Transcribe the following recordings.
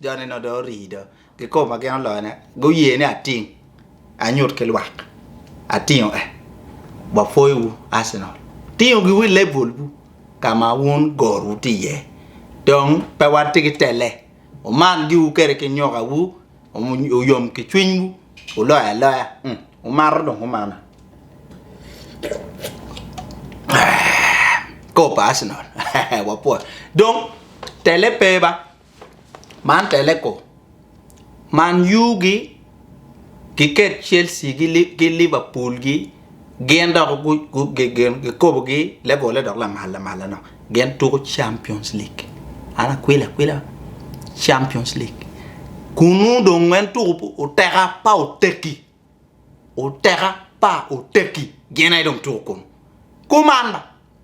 Jone nongo dong orii do ki kome ma gin oloyone, guye ni ating anyut ki lwak atingo eh wapwoyo wu Arsenal tingo gi wi level bu ka ma wun gor wu tye iye dong pe watye ki tele wuman gi wu kede ki nyoka wu wuyom ki cwiny wu wuloyo aloya wumato dong kumana kor pa Arsenal wapwoyo dong tele pe ba. Man teleko man yugi kiket Chelsea ki Liverpool gi gin dok kikobo gi level ne dok lamal lamal manok gin tuko champions league an akwilo akwila champions league kunu dong en tuko oteka pa otegi. Oteka pa oteki gin aye dong two kom kuman ma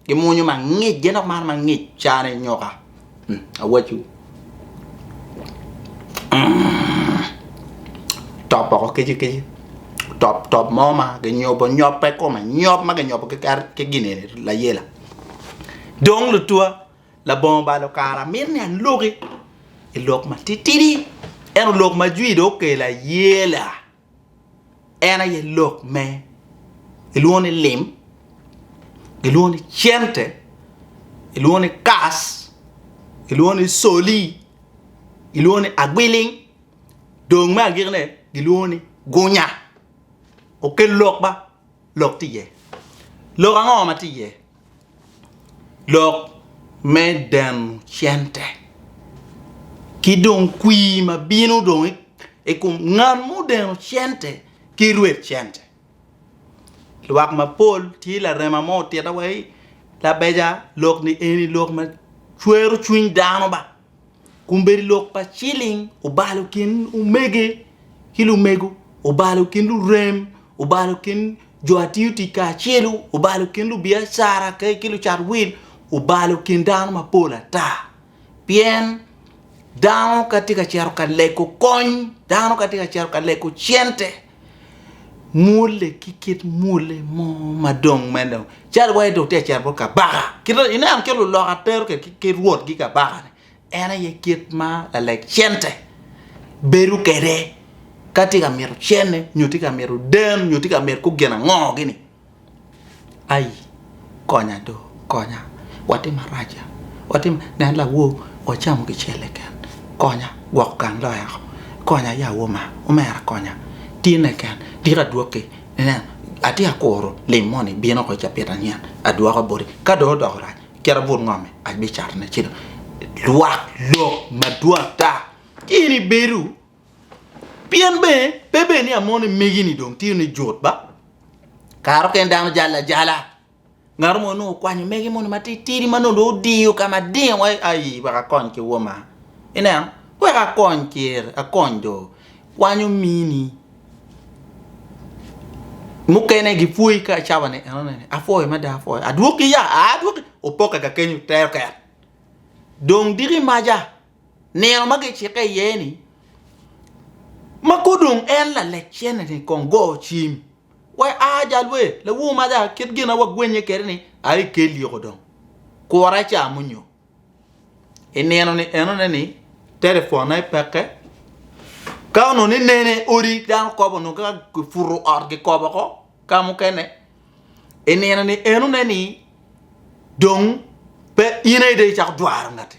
gimwonyo mangic gin dok mano mangic caa ne nyoka awaciwu top boko kici kici top top mo ma ginyobo nyope kome nyob ma ginyobo ki gin eni layela dong lutua. Labongo balo kara amito ni aloki i lok matitidi, ento lok ma jwi dong okelo aye la en aye lok me gilwongo ni lim, gilwongo ni cente, gilwongo ni kas, gilwongo ni coli, gilwongo ni agwiling dong me agikine gilwongo ni gunya. Okelo lok ba, lok tye iye. Lok ango ma tye iye? lok me deno cente ki dong kwir ma bino dong i kom ngat ma odeno cente ki rwed cente lwak mapol tye larema mo otite wai labeja lok ni eni lok macwero cwiny dano ba. Kombeddi lok pa ciling obalo kin omege ki lumego, obalo kin lurem, obalo kin jo a tiyo tic kacelu, obalo kin lubiacara ki lucat wil, obalo kin dano mapol ata. Pien dano ka tye ka cito ka lego kony, dano ka tye ka cito ka lego cente, Mwolle ki kit mwolle mo ma dong meno calo wai dong tye ka cito bot kabaka. Kite ineno kit luloka tero kwede ki kit rwotgi kabaka-ni en aye kit ma laleg cente bedo kwede ka tye ka mito cene nyo tye ka mito den nyo tye ka mito kor gin ango-ni. Ai konya do konya watye marac watye marac nen lawor wacamo kicel keken konya gwoko gang loyo oko konya ya woma omera konya tye keken tika adwoki inen atye akuro lim moni bino woko cabit anyen adwoka boti ka dong odoko rac kit abut ngome abicatone ci dong lwak lok madwota in ibedo Pien bene pe bed ni amon ni megi-ni dong tye ni jut ba, kare okene dano jalo ajala. Ngatu mo nongo okwanyo mege moni matitidi ma nongo dong odiyo ka ma ding wai aii wek akony ki woma. Ineno? Wek akony ker, akony jo. Kwanyo mini. Mukene gipwoyi ka cawa ni enoni ni apwoyo mada apwoyo. Adwoki ya? Aa adwoki. Opokke ka kenyo te oket. Dong diki maja nino ma gicikke iye-ni, ma ka dong en lalek cene-ni kong go cim, wa i aa jal wer, lawor maja, kit gin ma wagwennye kwede ni, Aa ikel yiko dong, kura ica munyo. I nino-ni enone ni telefon aye pekke, ka onongo ni nene odi dano kop onongo ka kiputo ot kikop woko ka mukene, i nino-ni enone ni dong pe in aye dong icako dwaro ngati.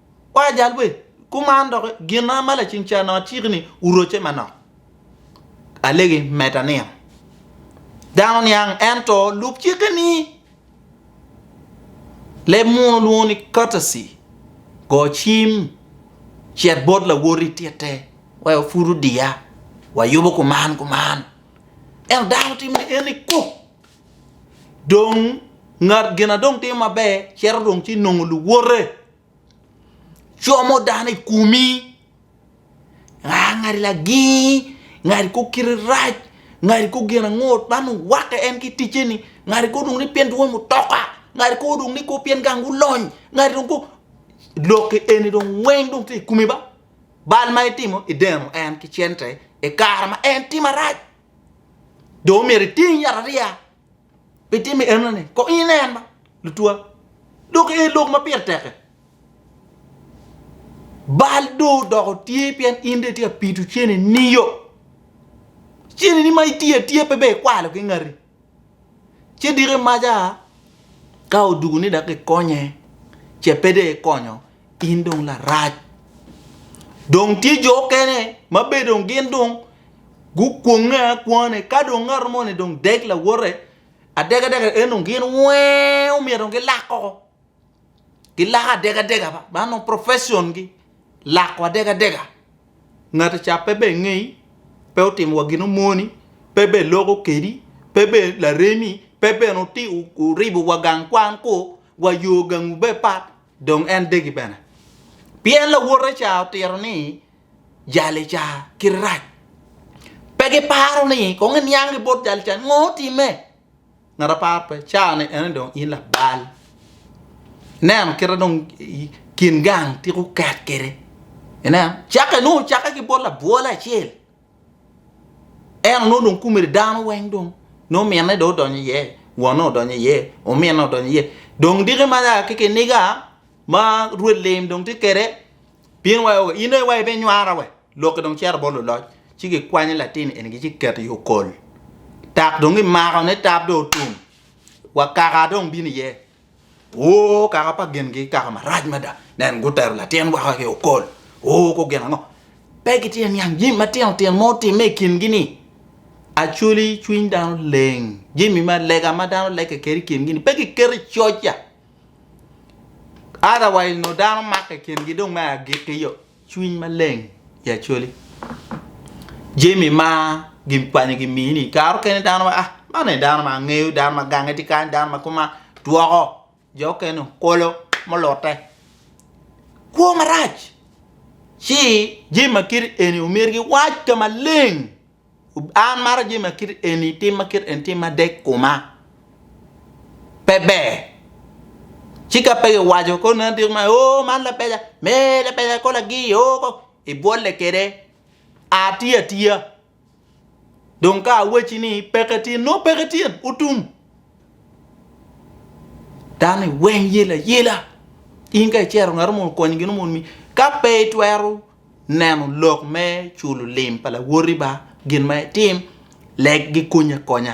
Kwa jal we kuman doki gina ma lacing ca nongo aciki ni wuroce manok. Alegi meta niya, Dano niang ento lub cikke ni. Leb muno lwongo ni courtesy, go cim, cit bot lawoti titte, wa epud odiya, wayubo kuman kuman. Ento dano timo ni en ni kuk. Dong ngat gin a dong timo maber cito dong ci nongo luwote, como dano i komi, aa ngati lagingi, ngati kor kite rac, ngati kor gin ango, man owake en ki ticce-ni, ngati kobo dong ni pien dwon mutoka, ngati kobo dong ni pien gang gulony, ngati dong kobo, lok-ki eni dong weng dong tye i komi ba, bal ma itimo ideno en ki cente i kare ma en tye marac. dong omyero iting yat ariya pi timo enoni kong inen ma lutwa dok ee lok ma pire tek-ki bal dong odoko tye pien in dong itye ka pito cene nio cene ni ma itiyo atiya pe ber ikwalo ki ngati ci diko imaca ka odwogo ni dok kikonye ce pe dong ikonyo In dong larac. Dong tye jo okene ma be dong gin dong gukwonge akwane ka dong ngat mo ni dong dek lawote adega dega en dong gin wee omyero dong gilak koko gilako adega dega ba man dong profession gi lako adega dega ngati ca pe ber ngei pe otimo wa gino moni pe ber loko kedi pe ber laremi pe bene oti oribo wa gang kwan ku wa yo gangu ber pat. dong en degi bene. Pien lawote ca otito ni jali ca kite rac. Pe giparo ni kong eniang ki bot jali ca ngo otime. Ngat apar pe cani ene dong in labal. Neno kite dong kin gang tiko ket kede. Ineno? Cake nongo cake ki bot labwole acel. Ento nongo dong komedi dano weng dong nongo minne dong odonyo iye, wonne odonyo iye, ominne odonyo iye dong diki ma ya ki kiniga ma rwed lim dong tye kwede pien wa aye in aye wa ibinywara wa lok-ki dong cito bot luloc ci kikwanyo latin eni ci kiketo i okol tak dong kimakone tab dong otum wa kaka dong bino iye. O, kaka pa gingi kaka marac mada! Nen, gutero latin woko ki okol. O, ku gin ango? Pe gitye niang jami matino tino ma otimme i kingi-ni. Acwali cwiny dano leng, jami ma lega ma dano legge kede i kingi-ni pe giketo i coc-ca. Otherwise nongo dano makke i kingi dong me agikki yo. Cwiny maleng i Acholi. Jami ma gin kwanyo gi mii ni kare okene dano ma ah man eni dano ma angeyo dano ma gange tye kany dano ma koma dwoko jo okene okolo mulute kwo marac ci jami ma kit eni omyero giwac ka maleng. An maro jami ma kit eni, tim ma kit eni tye ma dek kuma. Pe ber. Ci ka pe giwaco koni en diko ma, oo man labeca, me labeca ko lagi, oo ko, ibwolle kwede. Ati atiya. Dong ka awacci ni peke tyen, nongo peke tyen, otum. Dano iweng yelo ayela. In ka icero ngat mo okonyi gin mo omiyi, ka pe itwero neno lok me culo lim pa lawoti ba gin ma itim leg gikony akonya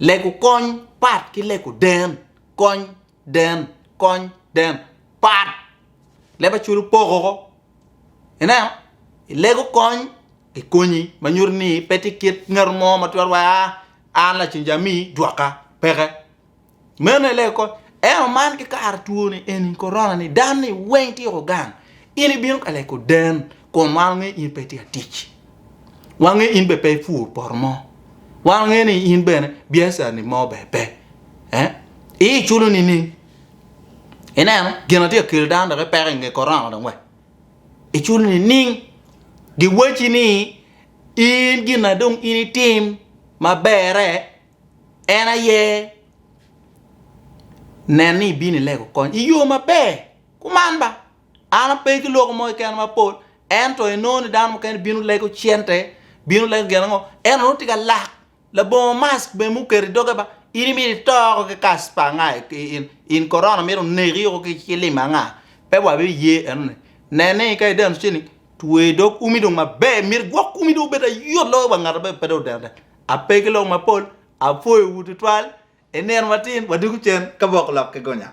lego kony pat ki lego den kony den kony den pat leb aculo poko ko ineno ilego kony gikonyi ma nyuto ni pe ti kit ngat mo ma twero wa an lacen jami jwaka peke Meno i lego kot. Ento man ki kare twoni eni korona ni dan ni weng tiko gang. In ibino ka leko den kun wan wange in pe tye atic. Wange in be pe ipur poto mo. Wange ni in bene biacara ni mo be pe. Eh? I iculo ni ning. Ineno gina tye akelo dan dok ipeko inge korona dong we. Iculo ni ning. Giwaci ni in gina dong in itim mabere En aye nen ni ibino ilego kony i yo maber. Kuman ba, an ape ki lok mo keken mapol ento inongo ni dano mukene bino lego cente, bino lego gin ango, ento nongo tye ka lak labongo mask bene muketo i doge ba, in imito ito oko ki kacper anga in korona mito neki oko ki cilim anga, pe wabiye enoni. Nen ni ka ideno ceni, twe dog umi dong maber, myero gwok umi dong obed ayot loyo wa ngat ma pe dong odeno deno. Ape ki lok mapol, apwoyowu tutwal. I nino matin, wadwogo cen ka bok lok ki gonya.